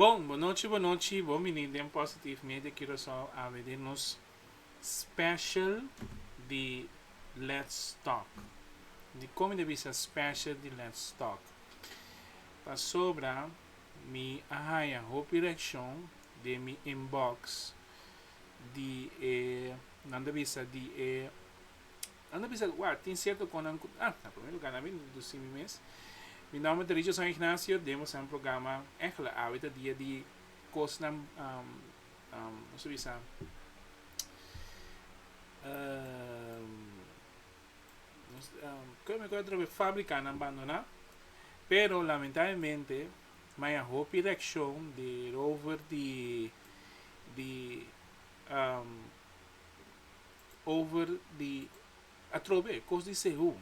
Bon bonochi bonochi bon bini den positive media curacao ABD nos special di let's talk di con mi ta bisa special di let's talk pasobra mi a haya hopi reaccion den mi inbox di e nan ta bisa di e nan ta bisa wak tin cierto con nan cu ah na primer lugar nan mi introduci mi mes mi nomber ta Richardson Ignacio den bosa programa Egla awe ta dia di cosnan um um kico ta bisa um kico ta bisa fabrica nan bandona pero lamentablemente. ma e hopi reaccion di rover di di um over di atrobe cos di sehu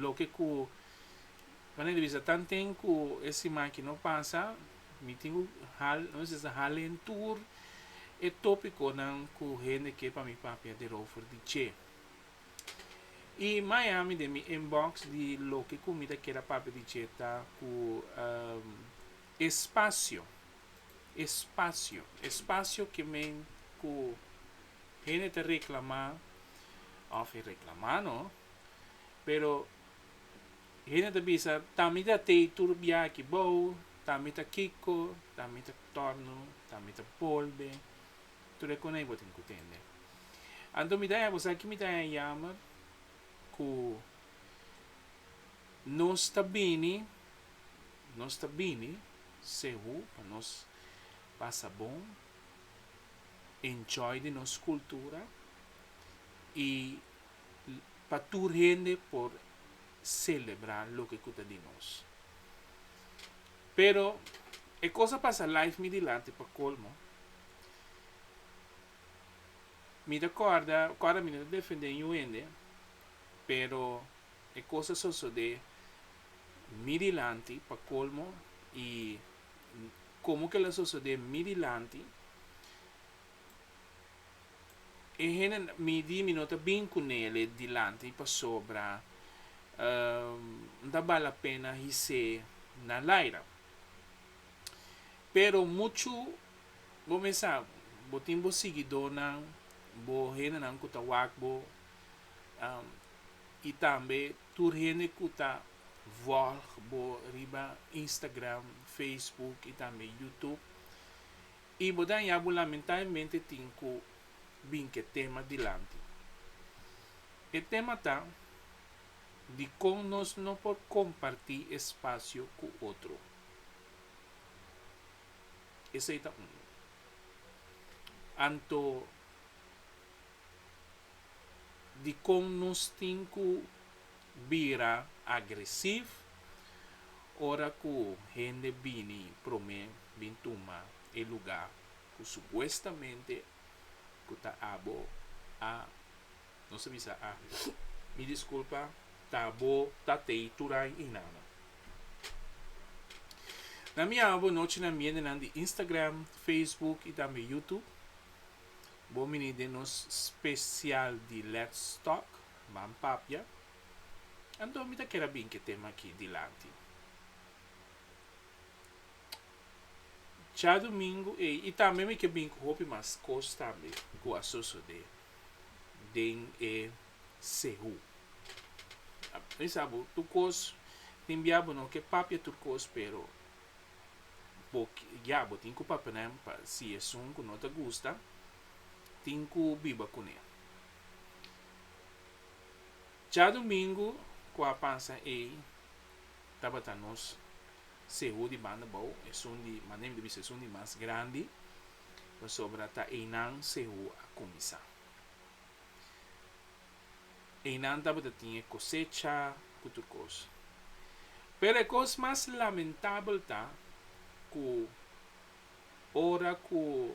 loke cu manera di bisa tan ten cu e simaki no pasa mi tin cu hala no necesita hala en tur e topiconan cu hende ke pa mi papia di rover di che. I Miami den mi inbox di loke ku mi ta keda papia di dje ta ku espasio, espasio, espasio ke men ku hende ta reklamá òf e reklamá no, pero hende ta bisa ta mi ta tei tur bia aki bou, ta mi ta kiko, ta mi ta torno, ta mi ta bolbe. tur e konei bo tin ku tende. Anto mi ta haña, bo sa ki mi ta haña yammer? Ku nos ta bini, nos ta bini sehu pa nos pasa bon, enjoy di nos kultura i pa tur hende por selebrá loke ku ta di nos. Pero e kos a pasa life mi dilanti pa kolmo. Mi ta corda ora mi no ta defende ñu hende pero e cos a sosode mi dilanti pa colmo y como que lo a sosode mi dilanti e hende mi di mi no ta bini cu nele dilanti pasobra no ta bal la pena his'é na laira pero mucho Bo mesa bo tin bo siguidornan, bo hendenan ku ta wak bo, i tambe tur hende ku ta vòlg bo riba Instagram, Facebook i tambe YouTube. I bo ta haña bo lamentabelmente tin ku bin ku e tema dilanti. E tema ta, Dikon nos no por kompartí espasio ku otro? Esei ta unu. Anto dikon nos tin ku bira agresif ora ku hende bini promé bin tuma e lugá ku supuestamente ku ta abo a. Nos a bisa, a. Mi disculpa, ta bo, ta tei, turai i nana. Na mi abo bo nochi na miendenan di Instagram, Facebook i tambe YouTube. Bo mini den nos special di Let's Talk, Ban Papia. Anto mi ta kere a binke tema aki dilanti. Djadumingu ei, i tambe mi ke binke hopi mas cos tambe cu a sosode. den e sehu. Mi sa bo tur kos tin bia bo no ke papia tur kos pero bo ya bo tin ku papenan pa si esun ku no ta gusta tin ku biba kuné. Cha domingu ku a pasa ei tabata nos sehu di banda bou esun di manem di bisa esun di mas grandi. pasobra ta einan Sehú a kuminsá. Einan tabata tin e kosecha ku tur kos. Pero e kos mas lamentabel ta ku ora ku,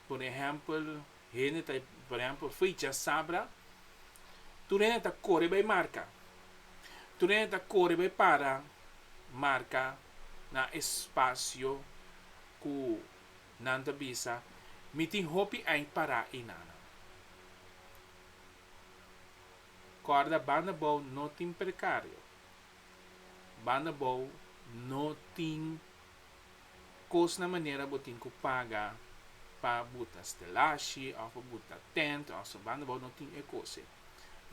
por ehèmpel, Hende ta, por ehempel, ficha sabra. Tur hende ta kore bai marka. Tur hende ta kore bai para marka na espasio ku nan ta bisa, Mi tin hopi ei pará einanan. Kòrda, banda bou no tin prekario. Banda bou no tin. Kos na manera bo tin ku paga pa bo ta stelashi òf pa bo ta tènt òf so banda bou no tin e kos'e.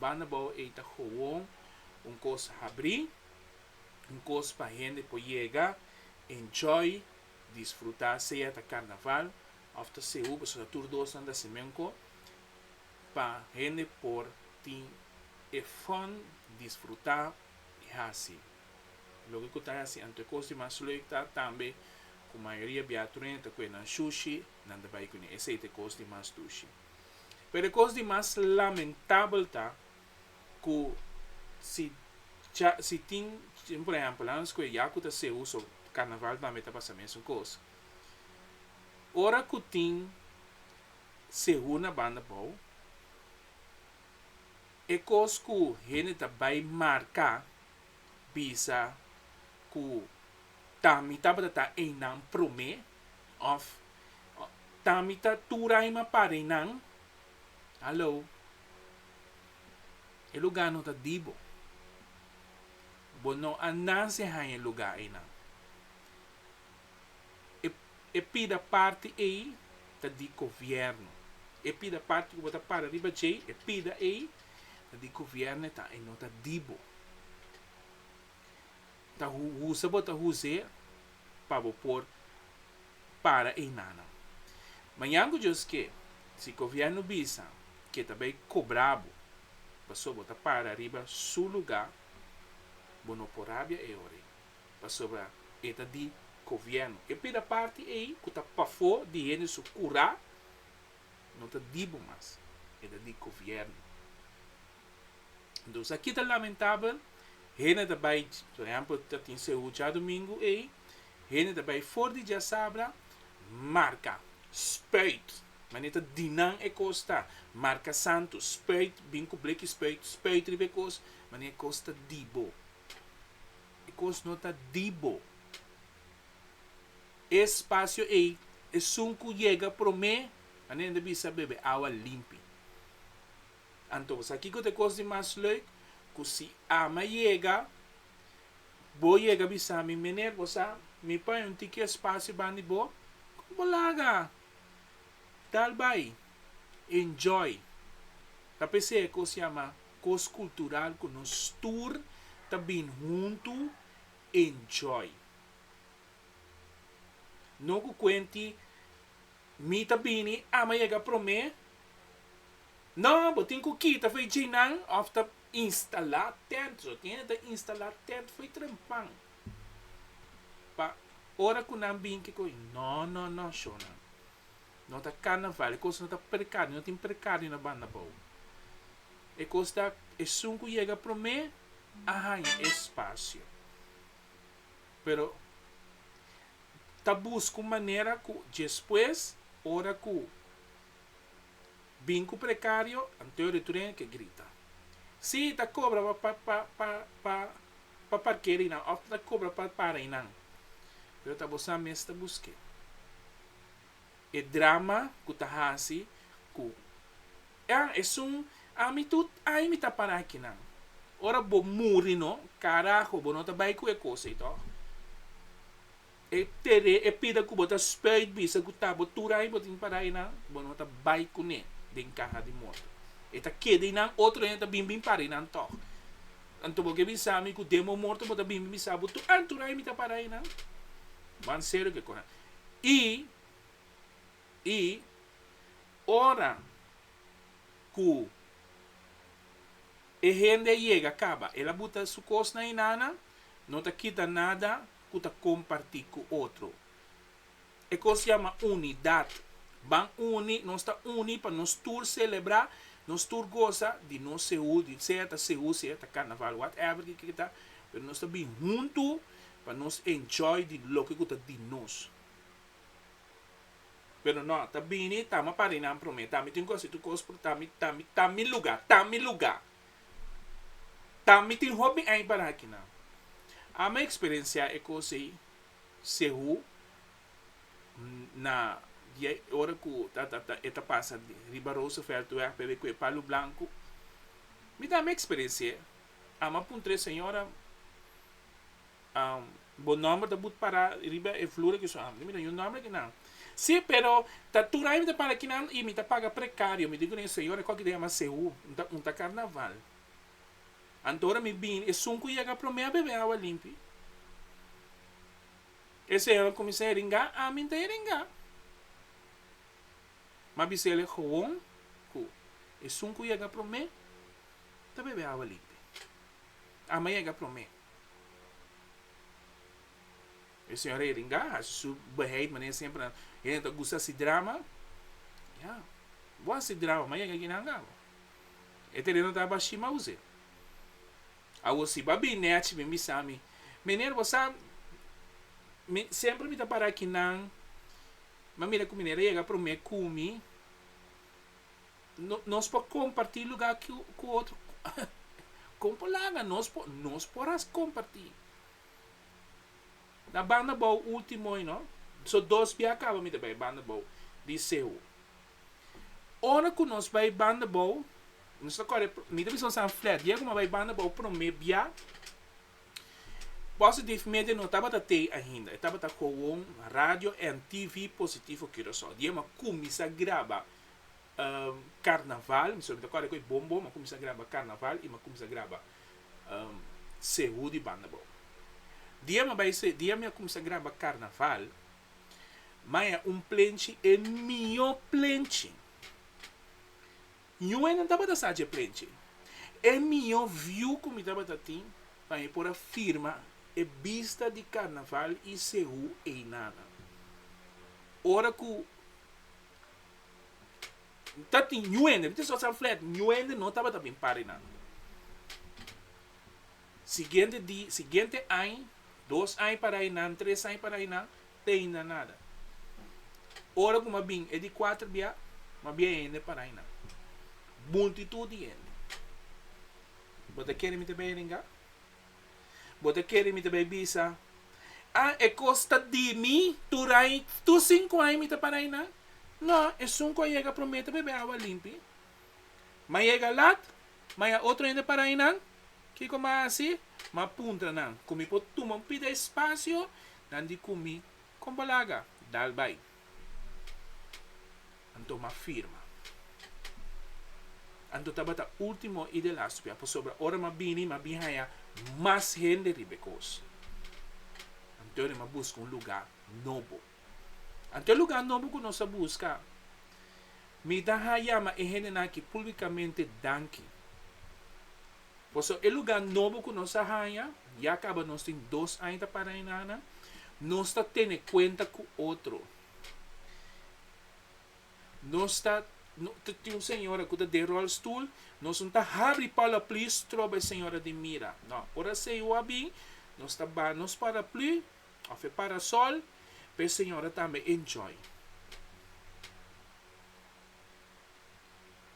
Banda bou ei ta gowon un kos habrí, un kos pa hende por yega, enjoy, disfrutá sea ta karnaval òf ta sehu pasobra ta tur dosnan ta si men ko pa hende por tin e fòn, disfrutá i hasi. Loke ku ta hasi anto e kos di mas lüik ta tambe ku mayoria biatureño ta kue nan shushi, nan ta bai kuné. Esei ta e kos di mas dushi. Pero e kos di mas lamentabel ta ku si dja, si tin, por ehèmpel, nan skue yaku ta sehu, so karnaval tambe ta pasa mesun kos. Ora ku tin sehu na banda bou, e kos ku hende ta bai marká bisa ku ta mi tabata ta einan promé òf ta mi ta turaima para einan, hallo, e lugá no ta di bo. Bo no a nase haña e lugá einan. e e pida parti ei ta di gobierno e pida parti ku bo ta para riba djei e pida ei ta di gobierno e ta e no ta di bo ta hu husa bo ta huse pa bo por para einanan mañan ku djos ke si gobierno bisa ke ta bai kobra bo paso bo ta para riba su luga bo no por rabia e ora ei. Pasobra e ta di Kovièrnu. E pida parti ei ku ta pafó di hende su kurá no ta di bo mas, e ta di Kovièrnu. Entonces aki ta lamentabel, hende ta bai, por ehèmpel ta tin CU djadumingu ei, hende ta bai for di djasabra marka, spuit, manera ta di nan e kos ta, marka santu, spuit, bin ku bleki spuit, spuit riba e kos, manera e kos ta di bo. E kos no ta di bo. E spasio ei, esun ku yega promé, anenen ta bisa bebe awa limpi. Anto bo sa kiko ta e kos di mas leuk? Ku si Ama yega, bo yega bisa mi, Meneer, bo sa mi paña un tiki espasio bandi bo? Kon bo laga dal bai? Enjoy ta p'esei e kos yama kos kultural ku nos tur ta bini huntu enjoy. No ku kuenti mi ta bini, a'an m'a yega promé. No, bo tin ku kita fo'i djeinan òf ta instalá tènt. Lo tiene ta instalá tènt fo'i trempan pa ora ku nan bin kiko. No, no, no, shona. No ta carnaval, e cos no ta percado, no tin percado di no banda bao. E cos ta esun cu yega prome a haña e espacio. Pero ta busca un manera cu despues ora cu bin cu precario anto e turen a ke grita. Si, ta cobra pa pa pa pa pa pa parkeri nan of ta cobra pa para einan. Pero ta bo sa mes ta busque. e drama ku ta hasi ku Ah, esun ami tut ai mi ta para aki nan. Ora bo muri no, karaho, bo no ta bai ku e kos ei tòg. E tere, e pida ku bo ta spuit bisa ku ta bo tur ai bo tin para einan, bo no ta bai kuné den kaha di morto. E ta keda einan, otro hende ta bin bin para einan tòg. Anto bo ke bisa mi ku den bo morto bo ta bin bin bisa bo tur, ah, tur ai mi ta para einan? Bo a serio ke kona. I i ora ku e hende yega kaba, el a buta su kos na inana, no ta kita nada ku ta kompartí ku otro. E kos yama unidat. Ban uni, nos ta uni pa nos tur selebrá, nos tur gosa di nos sehu, di sea ta sehu, sea ta karnaval, whatever di ke ke ta, pero nos ta bin huntu. Pa nos enjoy di loke ku ta di nos. Pero no, ta bini ta mi parinan promé, ta mi tin ku hasi tur kos por ta mi, ta mi, ta mi luga, ta mi luga. Ta mi tin hopi ein para akinan. Ami a eksperensiá e kos ei sehu na dia i ora ku ta, ta, ta, e ta pasa riba Rooseveltweg, p'e bai ku e palu blanku. Mi tambe a eksperensi'é. Amo a puntra e señora, Bo nomber ta but para riba e flura ki so? Amo no mi duna yu nomber a kinan. Sí, pero ta tur aña mi ta para kinan i mi ta paga precario. Mi di kuné, Señor, e kòki ta yama seú. Mi ta unta karnaval. Anto ora mi bini, esun ku yega promé a bebe awa limpi. E señora kuminsá heringá, ami N ta heringá. Mi a bis'é el e gowon ku esun ku yega promé. ta bebe awa limpe. Ama yega prome. E señora Heringa hasi su beheid manera semper nan. Hende ta gusta hasi drama. Ya. Bo a hasi drama, ma yega aki nan awa. E tereno ta aba shima use. Awor si bo a bini achi mi bisa mi, Meneer, bo sa mi semper mi ta para aki nan, ma mira ku meneer a yega prome ku mi. No, nos por comparti lugar cu, cu otro. Con por laga? Nos por, nos por haci comparti. Na banda bou ultimo hoy, no? So dos bia caba mi ta bay banda bou. Di Sehu. Ora cu nos bay banda bou, nos ta core, mi ta bisa un san flat. Dia cu mi a bay banda bou prome bia, Positive Media no tabata tey ainda. E tabata gewoon radio en TV Positivo Curacao. Dia mi a cuminsa graba Carnaval, mi solo mi ta kòrda ku e bombo, m'a kuminsá graba Carnaval i m'a kuminsá graba Sehu di Banda Bou. Dia m'a bai Sehu, dia mi a kuminsá graba Carnaval, m'a haña un plenchi, e mihó plenchi. Yu e nan tabata sa dje plenchi. E mihó viu ku mi tabata tin pa mi por a firma e bista di Carnaval i Sehu einan. Ora ku Ta tin ñuende, mi tin sòt san flèt, ñuende no tabata bin parinando. Siguiente di, siguiente aña, dos aña para einan, tres aña para einan, teinda nada. Ora ku mi a bin e di kuater bia, mi a bia hende para einan. Multitud di hende. Bo ta kere mi ta beiringa? Bo ta kere mi ta bai bisa? A, e kos ta di mi, tur ai, tur sinku ai mi ta parai nan? No, esun ku a yega promé ta bebe awa limpi. M'a yega lat, ma ya otro hende parai nan. Kiko m'a hasi? M'a puntra nan ku mi por tuma un pida espasio, nan di ku mi, Kon bo laga, dal bai. Anto m'a firma. Anto tabata ultimo i de lastpia, pasobra ora m'a bini, m'a bin haña mas hende riba e kos. Anto ri m'a buska un lugá nobo. Anto e lugá nobo ku nos a buska, mi ta yama e hendenan aki públikamente danki. Pasobra e lugá nobo ku nos a haña ya kaba nos tin dos aña ta para Ainana, nos ta tene kuenta ku otro. Nos ta, ta tin un señora ku ta den ròlstul, nos no ta habri palaplü stroba e señora den mira. Nò, ora esei ua bin, nos ta baha nos paraplü òf e parasòl pa e señora tambe enjoy.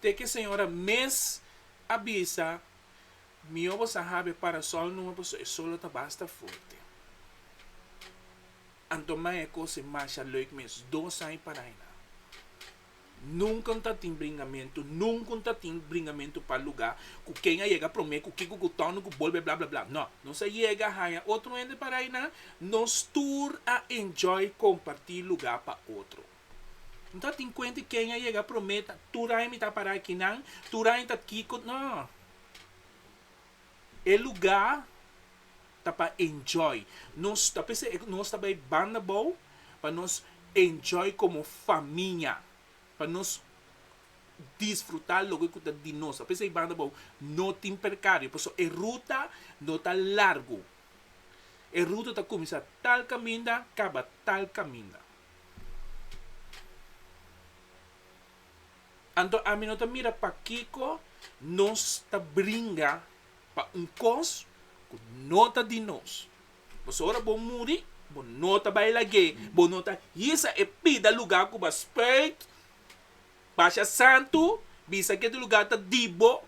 Te ki señora mes a bisa, Mihó bo sa hab'e parasòl numa pasobra e solo ta basta fuerte. Anto mai e kos'e masha lèuk mes dos aña parai nan. Nunka N ta tin bringamentu, nunka N ta tin bringamentu pa lugá ku ken a yega promé, ku kiko, ku tònde, ku bolbe, bla, bla, bla. Nò. Nos a yega haña otro hende parai nan, nos tur a enjoy kompartí lugá pa otro. No ta tin cuenta Kenya yega prome ta tur aña mi ta para aki nan, tur aña ta kiko no. E luga ta pa enjoy. Nos ta p'esei e ku nos ta bai banda bou pa nos enjoy komo famia, pa nos disfruta loke ku ta di nos. Ta p'esei banda bou no tin perkario pasobra e ruta no ta largu. E ruta ta kuminsá tal kaminda kaba tal kaminda. Anto ami no ta mira pakiko nos ta bringa pa un kos ku no ta di nos. Pasobra ora bo muri, bo no ta bai lag'é, bo no ta hisa e pida lugá ku bo a spüit. Basha santu, bisa ke di lugar ta di bo,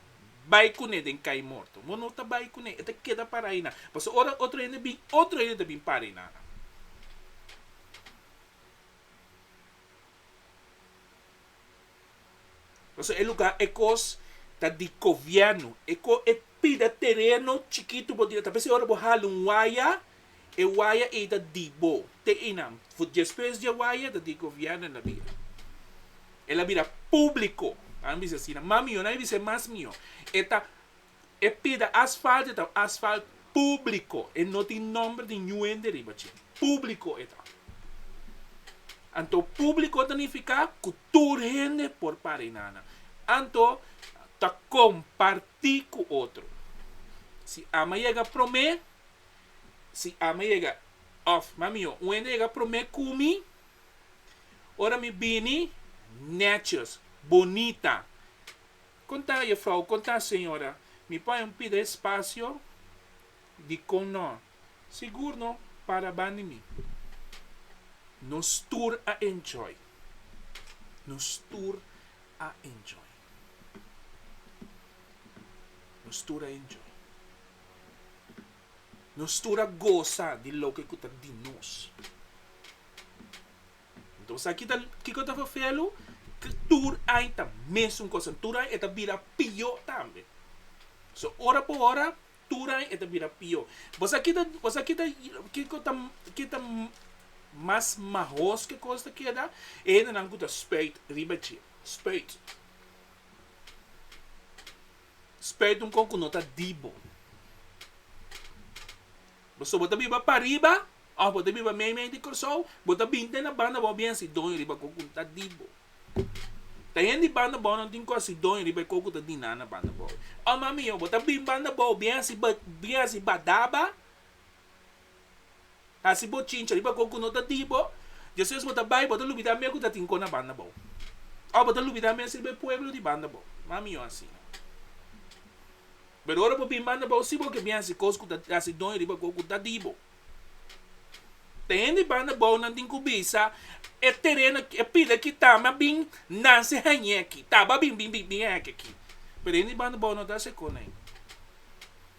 bai kuné den kai morto. Bo no ta bai kuné, e ta keda para einan. Pasobra ora otro hende bin, otro hende ta bin para einan. Pasobra e lugar, e kos ta di kovièrnu. E ko e pida tereno chikitu bo tin, ta vez e ora bo hala un waya, E waya ei ta di bo. Te einan, for despues di e waya ta di gobièrnu el a bira. El a bira públiko. Nan a bisa asina. Mas mihó, nan a bisa e mas mihó. E ta, e pida asfalt, e ta asfalt públiko. E no tin nòmber di ñu hende riba dje. Públiko e ta. Anto públiko ta nifiká ku tur hende por para einan nan. Anto ta kompartí ku otro. Si ama yega promé. si ami yega òf mami yon un hende yega promé ku mi, ora mi bini nètjos, bonita, kon ta jefrou, kon ta señora, mi por a pidi espasio? Dikon nò? Sigur no para bani mi. Nos tur a enjoy. Nos tur a enjoy. Nos stura enjoy. Nos stura gosa di loke ku ta di nos. Entonces aki ta kiko ta fafelu? Ke tur ai ta mesun kosa. Tur ai e ta bira pió tambe. So ora por ora tur ai e ta bira pió. Bo sa kita bo sa kita kiko ta ke ta mas mahoske kos ta keda? E hendenan ku ta spèit riba dje. Spuit. Spuit un kon ku no ta dip bo. Bo so bo ta biba pariba òf bo ta biba mei mei di Kòrsou, bo ta binte na banda bou bier si doño riba kon ku ta dip bo. Ta hende di banda bou nan tin kos si doño riba e kon ku ta dip nan na banda bou. Òf mamiyo, bo ta bin banda bou bier si bier si badaba. Hasi bo chincha riba kon ku no ta di bo, despues bo ta bai bo ta lubidá mia ku ta tin kon na banda bo. Òf bo ta lubidá mens riba e pueblo di banda bo. No a mihó asina. Pero ora bo bin banda bo, si bo ke bin hasi kos ku ta hasi doño riba kon ku ta di bo. Te hende banda bonan tin ku bisa, E tereno, e pila aki ta mi a bin nan si hañ'é aki. Ta bo a bin bin bin hañ'é aki. Pero hende banda bo no ta hasi e kosnan.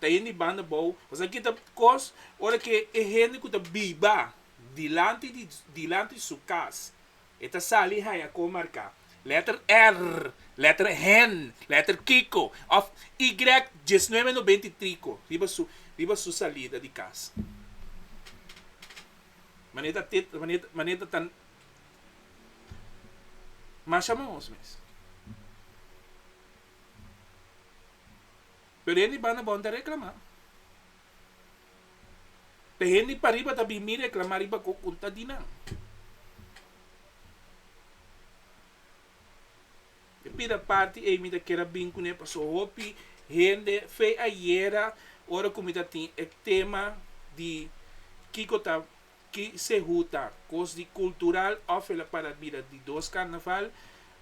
ta yen di banda bou, pasobra ki ta kos ora ke e hende ku ta biba dilanti di dilanti di su kas e ta sali haya kon marka lèter R, lèter hen, lèter kiko òf ygrèk diesnuebe nobenta i triko riba su riba su salida di kas. Manera te manera manera ta masha mos mes. Pero hende banda bon ta reclama. Ta hende pariba ta bin mi reclama riba cu un ta di nan. E pida party ey mi ta kier a bin cu ne paso hopi hende fe ayera ora cu mi ta tin e tema di kico ta Ki sehu ta kos di kultural òf el a para bira di dos karnaval.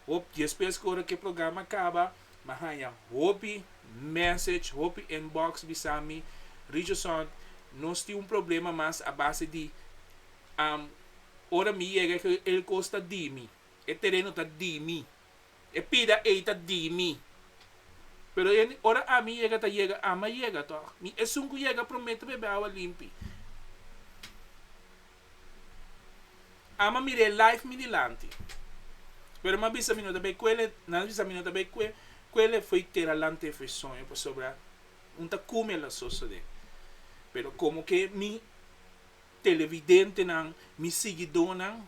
Hopi dies pes ku ora ku e programa kaba m'en haña hopi mèsech, hopi inbox bisa mi, Richardson nos tin un problema mas a base di ora mi yega el kos ta di mi, e tereno ta di mi. E pida ei ta di mi. Pero e ora ami yega ta yega ama yega tòg. Mi esun ku yega promé ta bebe awa limpi. Ama mira e life mi dilanti. Pero mi a bisa mi no ta bay kuele, nan a bisa mi no ta bay kue, kuele foi tera lant'é foi soño pasobra un ta kume la sosodé. Pero komo ke mi. Televidentenan, mi siguidónan,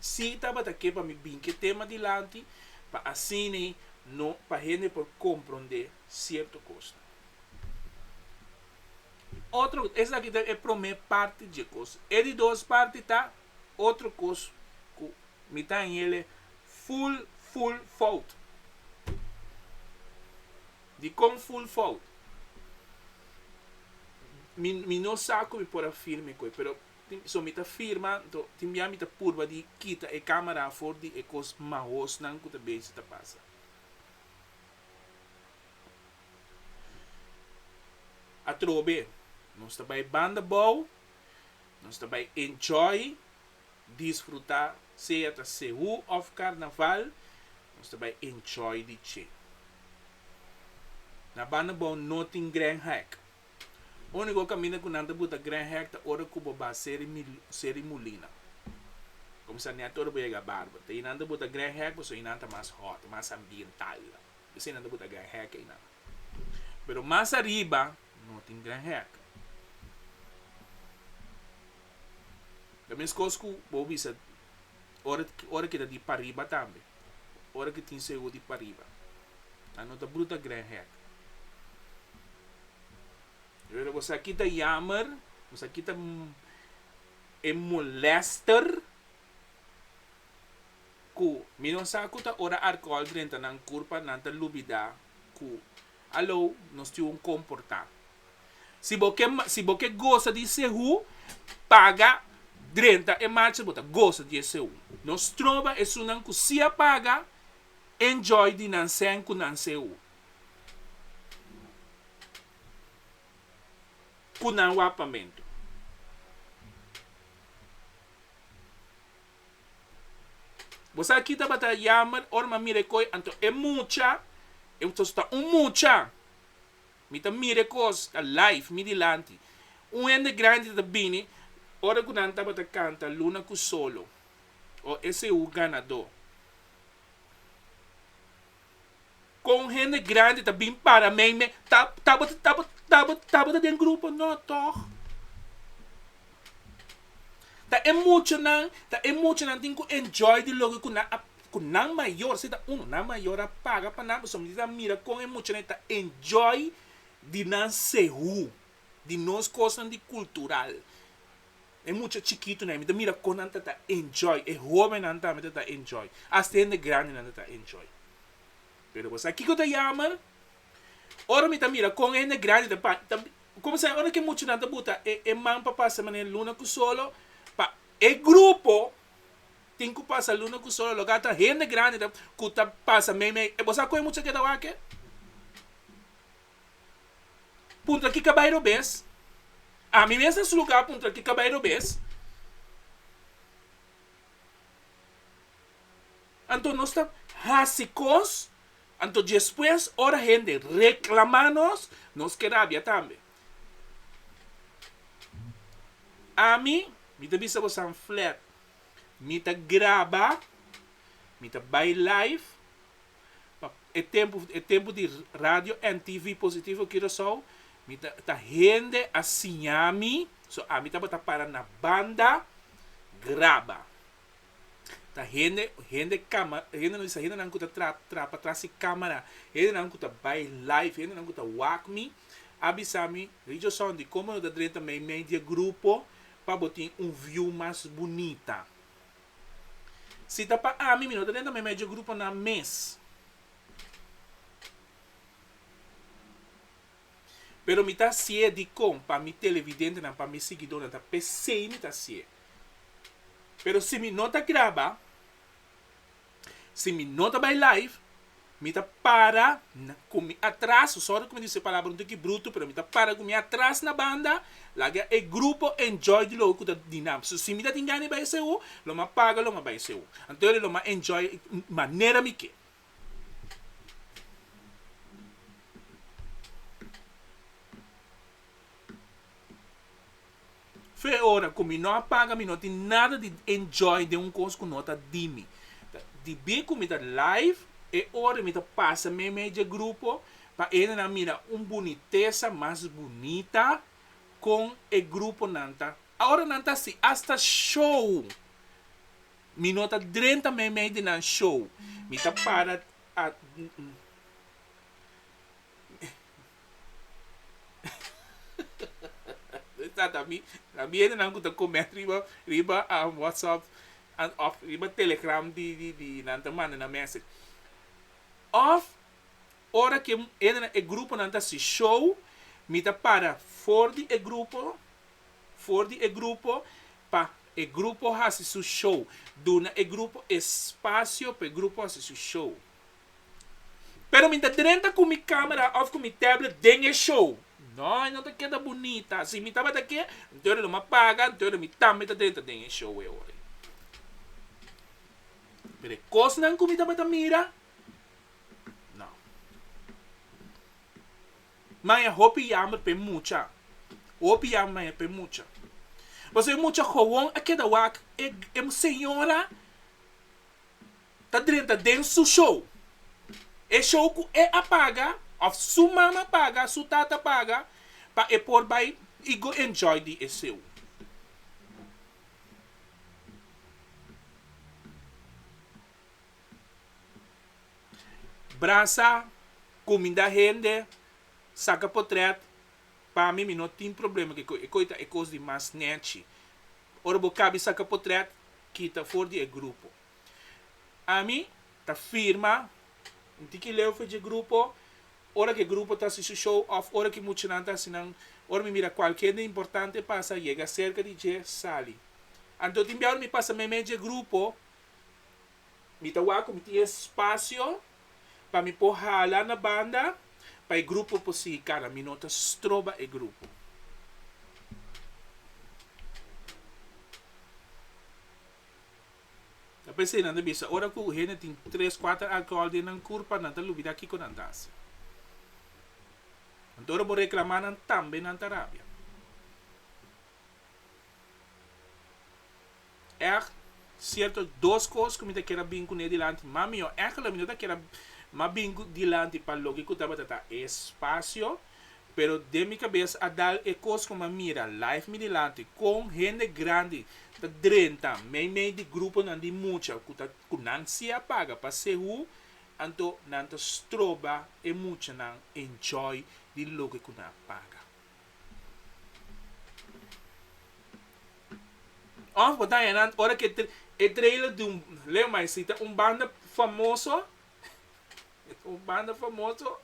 sí tabata ke pa mi bin ke tema dilanti pa asina no pa hende por komprondé sierto kosnan. Otro esaki ta e promé parti dje kos. E di dos parti ta otro kos ku mi ta hel e ful ful fout. Dikon full fout? Mi mi no sa ku mi por a firme ku e pero tin so mi ta firma nto tin bia mi ta purba di kita e kamera afor di e kos mahosnan ku ta besi ta pasa. Atrobe nos ta bai banda bou nos ta bai enjoy disfruta sea ta Sehu of Carnaval nos ta bay enjoy di che. Na banda bao no tin Grand Hek. Unico caminda cu nan ta buta Grand Hek ta ora cu bo ba Seri Seri Molina. Comisa net ora bo yega Barber. Ta eynan ta buta Grand Hek pasobra eynan ta mas hot, mas ambiental. P'esey nan ta buta Grand Hek eynan. Pero mas ariba. No tin gran hek. Ta meskos ku bo bisa ora ora ke ta di pariba tambe. Ora ke tin segur di pariba. A no ta bruta gran hek. Pero bo sa ki ta yammer, bo sa ki ta e molester ku mi no sa ku ta ora arkol drenta nan kurpa nan ta lubida ku. Aló, nos tin un komportá. Si bo ke si bo ke gosa di esei hu, paga drenta e macha bo ta gosa di esei hu. Nos troba esunnan ku si a paga enjoy di nan sen ku nan esei hu. Ku nan wak pamentu. Bo sa ki tabata yammer ora mi a mira e koe anto e mucha e sos ta un mucha mi ta mira e kos live mi dilanti un hende grandi ta bini ora ku nan tabata kanta luna ku solo o ese hu ganador. con hende grandi ta bin para mei me ta tabata tabata tabata den grupo no toch ta e mucha nan ta e mucha nan tin cu enjoy di loke cu nan a cu nan mayor si ta uno nan mayor a paga pa nan pasobra tin a mira con e muchanan e ta enjoy di nan sehu di nos cosnan di cultural. E mucha chikitunan, mi ta mira kon nan ta ta enjoy, e hobennan tambe ta ta enjoy, hasta e hende grandinan ta ta enjoy. Pero bo sa kiko ta yamer? Ora mi ta mira kon e hende grandi ta pa, ta kuminsá ora ke muchanan ta buta e e man pa pasa manera luna ku solo, pa e grupo tin ku pasa luna ku solo, lo ke ata hende grandi ta ku ta pasa meimei. Bo sa kon e mucha ke ta wak e? Puntra ki kabay robes? Ami mes na su lugá puntra ki kabay robes. Anto nos ta hasi kos, anto despues ora hende reklamá nos, nos ke rabia tambe. Ami, mi ta bisa bosa'n flèt, mi ta graba, mi ta bai live. pa e tempo e tempo di radio NTV Positivo Curaçao mi ta ta hende a siña mi so ami tabata para na banda graba ta hende hende cama hende lo bisa hendenan cu ta tra trapa tras si camera hendenan cu ta bay live hendenan cu ta wak mi a bisa mi Richard Sunday como no ta drenta media grupo pa bo tin un view mas bunita. Si ta pa ami, mi no ta dentro mi medio gruponan mes. Pero mi ta hasié dikon pa mi televidentenan, pa mi siguidónan ta p'esei mi ta hasié. Pero si mi no ta graba, si mi no ta bai live, Mi ta para ku mi atras, sòri ku mi dise e palabra un tiki brutu, pero mi ta para ku mi atras na banda, laga e grupo enjoy di lo ku ta di nan. So si mi ta tin gana di bai esei hour, lo mi a paga, lo mi a bai esei hour. Anto lo mi a enjoy manera mi ke. Fe ora cu mi no a paga mi no tin nada di enjoy den un cos cu no ta di mi. Di be cu mi ta live e ora mi ta pasa meimei dje grupo pa endenan mira un bunitesa mas bunita con e gruponan ta. Aora nan ta asi hasta show mi no ta drenta meimei di nan show mi ta para. Sa ta mi, ta mi e nan ku ta komènt riba riba whatsapp òf riba telegram di di di nan ta manda nan mèse. Òf ora ke e nan e gruponan ta si show, mi ta para for di e grupo, for di e grupo pa e grupo hasi su show, duna e grupo espasio pa e grupo hasi su show. Pero mi ta drenta ku mi camera of ku mi tablet den e show. No, e no ta keda bunita. Si mi tabata ke, entoces lo mi a paga, entoces mi tambe ta drenta den e show e ora. Pero e kosnan ku mi tabata mira, no. Maya, hopi yamber pa e mucha. Hopi yamber maya pa e mucha. Pasobra e mucha gowon a keda wak. E señora. ta drenta den su show. E show ku e a paga òf su mama paga, su tata paga pa e por bai i go enjoy di e seu. Brasa, kuminda hende, saka potrèt, pa mi mi no tin problema ku ekoi. Ekoi ta e kos di mas nèchi. Ora bo kabi saka potrèt, kita for di e grupo. Ami ta firma nti ki leu f'e dje grupo, ora ku e grupo ta hasi su show òf ora ku e muchanan ta hasi nan, ora mi mira kualkier hende importante pasa, yega serka di dje, sali. Anto tin bia ora mi pasa meimei dje grupo, mi ta wak ku mi tin e spasio pa mi por hala na banda pa e grupo por sigui kana. Mi no ta stroba e grupo. Ta p'esei nan ta bisa ora ku hende tin tres, kuater alkohòl den nan kurpa nan ta lubidá kiko nan ta hasi. Anto ora bo reklamá nan tambe nan ta rabia. Èg sierto dos kos ku mi ta keda bin kuné dilanti, mas mihó èg lo mi no ta keda mas bin dilanti pa loke ku tabata ta e spasio. pero den mi cabes a dal e cos cu mi a mira live mi dilanti con hende grandi ta drenta meimei di gruponan di mucha cu ta cu nan si a paga pa sehu anto nan ta stroba e muchanan enjoy di loke cu nan a paga. Of wataña nan ora cu e trailer di un leu maesita un banda famoso. Un banda famoso.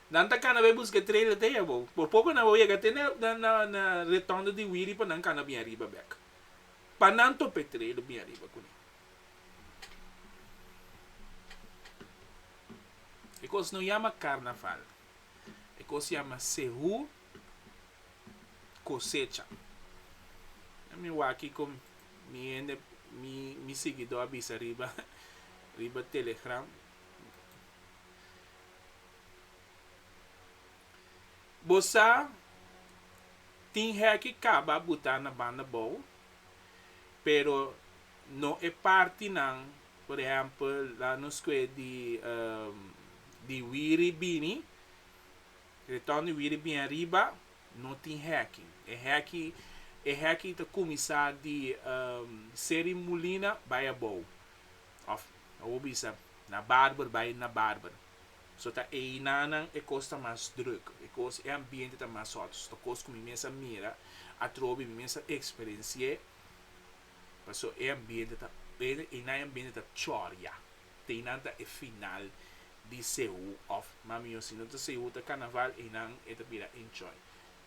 Nan ta cana bay busca trailer te ya bo. Por poco nan wou yega te na na na na retondo di wiri pa nan cana bien riba bek. Pa nan tope trailer bien riba cune. E cos no yama carnaval. E cos yama sehu. cosecha. Mi waki con mi hende, mi, mi siguidor a bisa riba, riba Telegram. Bo sa tin heki caba buta na banda bou, pero no e partinan, por ehempel, la nos coe di, di Wiri bini. Retorn di wiri bien ariba no tin hekki. E hekki e hekki ta kuminsá di Seri Molina bai abou. Òf a wou bisa na barber bai na barber. So ta einanan e kos ta mas druk, e kos e ambiente ta mas hot. So ta kos ku mi mes a mira atrobe, mi mes a eksperensié paso e ambiente ta einan e ambiente ta chòria. teinan ta e final di sehu of mami yo si no ta sehu ta carnaval einan e ta bira enjoy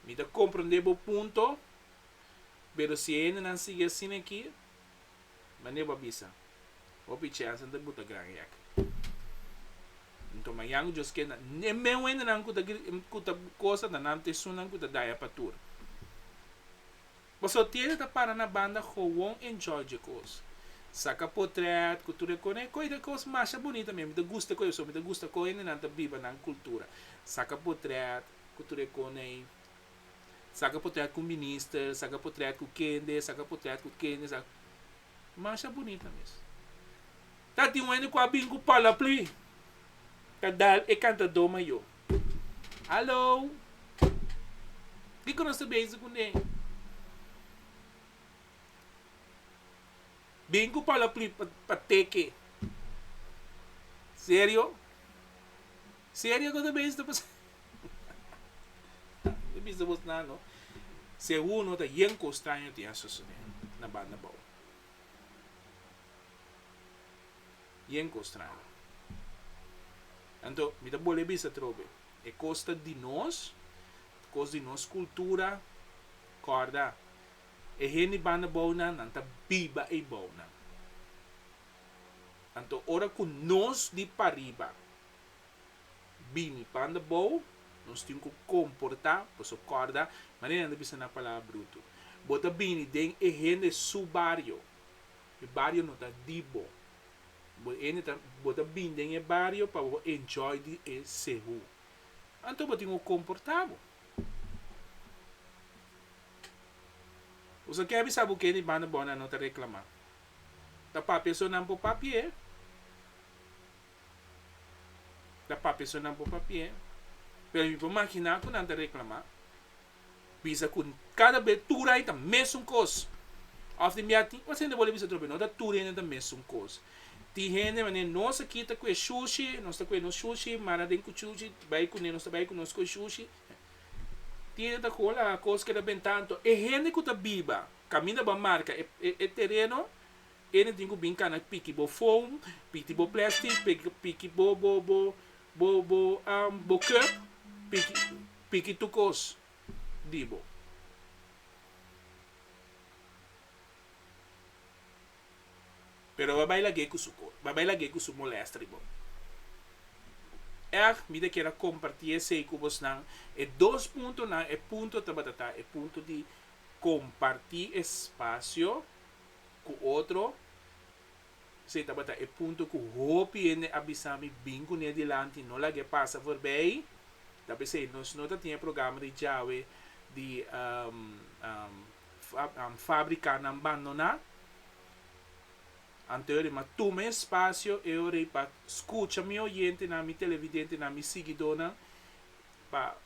mi ta comprende bo punto pero si e hendenan sigui asina aki mande bo a bisa hopi chance nan ta buta gran hek nto mañan just kenda e meu hendenan ku ta ku ta cosa ta nan ta esunnan ku ta daña pa tur. Boso tiene ta para na banda gewoon enjoy dje cos. Saca potret cu tur e cona e coy de cos masha bonita mi, mi ta gusta coy eso, mi ta gusta con hendenan ta biba nan cultura. Saca potret cu tur e coney, saca potret cu minister, saca potret cu kende, saca potret cu kende, sa, masha bonita mes. Ta tin un hende cu a bin cu palapli ta dal e cantador mayor. Hallo! Kiko nos ta bezig ku ne? Bin ku palapri pa teke. Serio? Serio ku ta bezig ta pasa? Nan ta bisa bos nan no. Segur no ta yen kos straño tin a susedé na banda bou. y en Kostrada. Anto mi ta bol'e bisa trobe, e kos ta di nos, kos di nos kultura, kòrda e hende banda bounan nan ta biba ei bounan. Anto ora ku nos di pariba bini banda bou, nos tin ku komportá, paso kòrda manera nan ta bisa na palabra brutu, bo ta bini den e hende su bario, E bario no ta di bo. Bo ene ta bo ta bini den e bario pa bo enjoy di e sehu. Anto bo tin ku komporta bo. Bo sa ke bisa bo kende banda bònan no ta reklamá. Ta papia so nan por papi'é. Ta papia so nan por papi'é. Pero mi por maginá ku nan ta reklamá. Bisa ku kada be tur hende ta mesun kos. Òf di mia tin otro hende bo le bisa trompia. No ta tur hende ta mesun kos. Tin hende manera nos a kita ku e shushi, nos ta kue nos shushi, mara den ku shushi, bai kuné, nos ta bai ku nos skoi shushi. Tin hende ta hola kos keda benta. Anto e hende ku ta biba kaminda bo a marka e e tereno, e hende tin ku bin kana piki bo foam, piki bo plastic, piki bo bo bo bo bo bo kep, piki. piki tur kos di bo. Pero bo a bai lag'é ku su kos, bo a bai lag'é ku su molèsta di bo. Èg, mi ta kere kompartí esei ku bosnan, e dos puntonan, e punto tabata ta e punto di kompartí espasio ku otro Esei tabata e punto ku hopi hende a bisa mi bin kuné dilanti, no lag'é pasa forbei. Ta p'esei nos no ta tin e programa di djawe di fábrika nan bandoná. Anto e ora ei, m'a tuma e spasio e ora ei pa skucha mi oyentenan, mi televidentenan, mi siguidónan, pa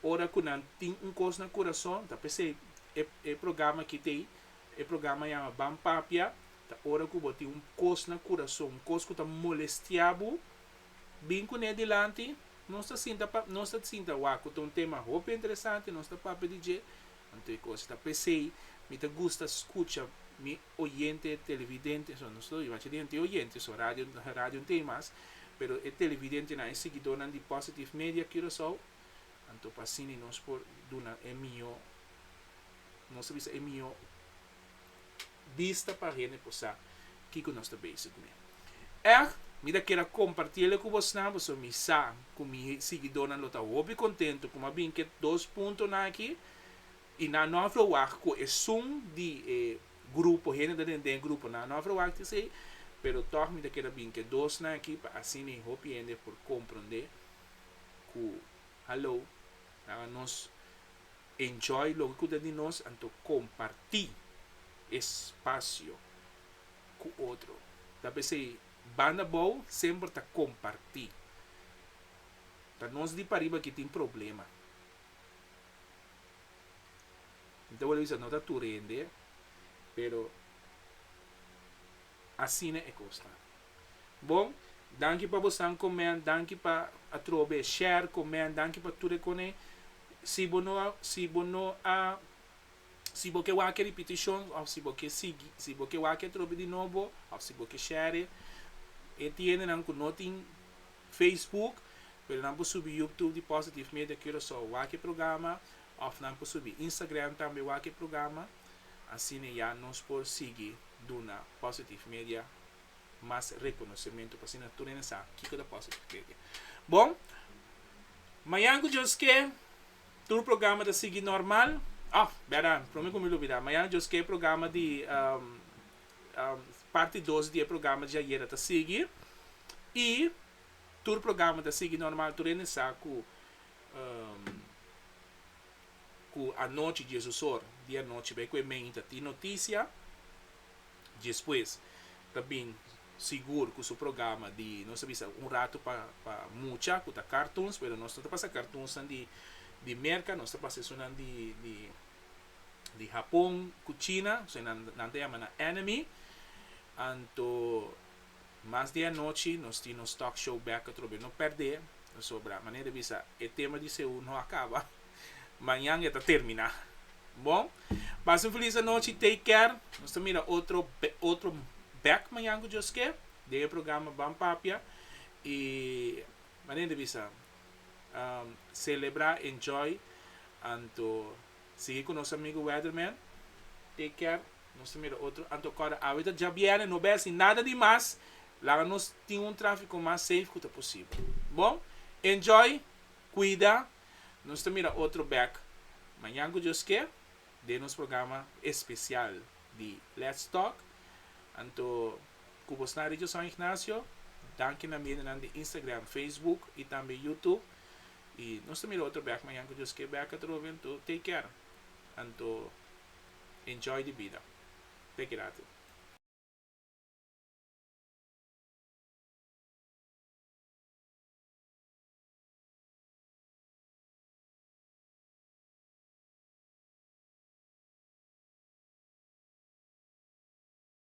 ora ku nan tin un kos na kurason, ta p'esei e programa akí t'ei e programa yama Ban Papia. Ta ora ku bo tin un kos na kurason, un kos ku ta molestiá bo, bin ku ne dilanti. Nos ta sinta pa, nos ta sinta, Wak, ku ta un tema hopi interesante, nos ta papia di dje. Anto e kos ta p'esei, mi ta gusta skucha mi oyente, televidente, so, nos ta oí bach'e di henter oyente, so radio, radio n't'ei mas, pero e televidentenan, e siguidónan di Positive Media Curaçao, anto p'asina nos por duna e mihó, nos ta bisa e mihó. bista pa hende por sa kiko nos ta bezig mi. Èg, mi ta kere kompartí ele ku bosnan pasobra mi sa ku mi siguidónan lo ta hopi kontentu ku mi a bin ku e dos puntonan akí i nan no a verwagt ku esun di e grupo hende ta den den gruponan no a verwagt esei pero tòg mi ta kere bin ku e dosnan akí pa asina hopi hende por komprondé ku halou nan a nos Enjoy loke ku ta di nos anto kompartí e spasio ku otro. Ta p'esei banda abou semper ta kompartí. Ta nos di pariba ki tin problema. Mi ta wòrdu bisa no ta tur hende, pero asina e kos ta. Bon, danki pa bosan comen, danki pa atrobe share comen, danki pa tur e cone. Si bo no a si bo no a si bo ke wak e repetition of si bo ke sigui si bo ke wak e atrobe di nobo of si bo ke share e. E tiendenan cu no tin Facebook pero nan por subi Youtube di Positive Media Curacao wak e programa of nan por subi Instagram tambe wak e programa asina ya nos por sigui duna Positive Media. mas rekonosementu pa asina tur hende sa kiko ta kos ta kere. Bon, mañan ku Dios ke tur programa ta sigui normal, oh bèda, promé ku mi lo bida, mañan Dios ke e programa di parti dos di e programa di ayera ta sigui i tur programa ta sigui normal, tur hende sa ku ku anochi diesos or di anochi bai ku e mei ta tin notisia. Djespues ta bin sigur ku su programa di nos ta bisa un ratu pa pa mucha ku ta kartuns pero nos no ta pasa kartunsnan di di merka nos ta pasa esunnan di di di Hapon ku China esei nan ta yama nan enemy anto Mas di anochi nos tin nos talk show bek atrobe. No perdé, pasobra manera di bisa e tema di Seú no a kaba, mañan e ta terminá. Bo, pasa un felis anochi, take care. Nos ta mira otro otro bek mañan ku Dios ke, den e programa Ban Papia. I manera di bisa, selebrá, enjoy anto Sigui cu nos amigo Weatherman. Take care. Nos ta mira otro Anto Corda awe ta djabiene. No bes ni nada di mas. Laga nos tin un trafico mas safe cu ta posibel. Bon. Enjoy. Cuida. Nos ta mira otro bek mañan cu Dios ke. Den nos programa especial di Let's Talk. Anto cu bo sna Regio San Ignacio. Danki na medianan di Instagram, Facebook y tambe Youtube. I nos ta mira otro bek mañan ku Dios ke bek a trobe anto take care anto enjoy di bida take it out.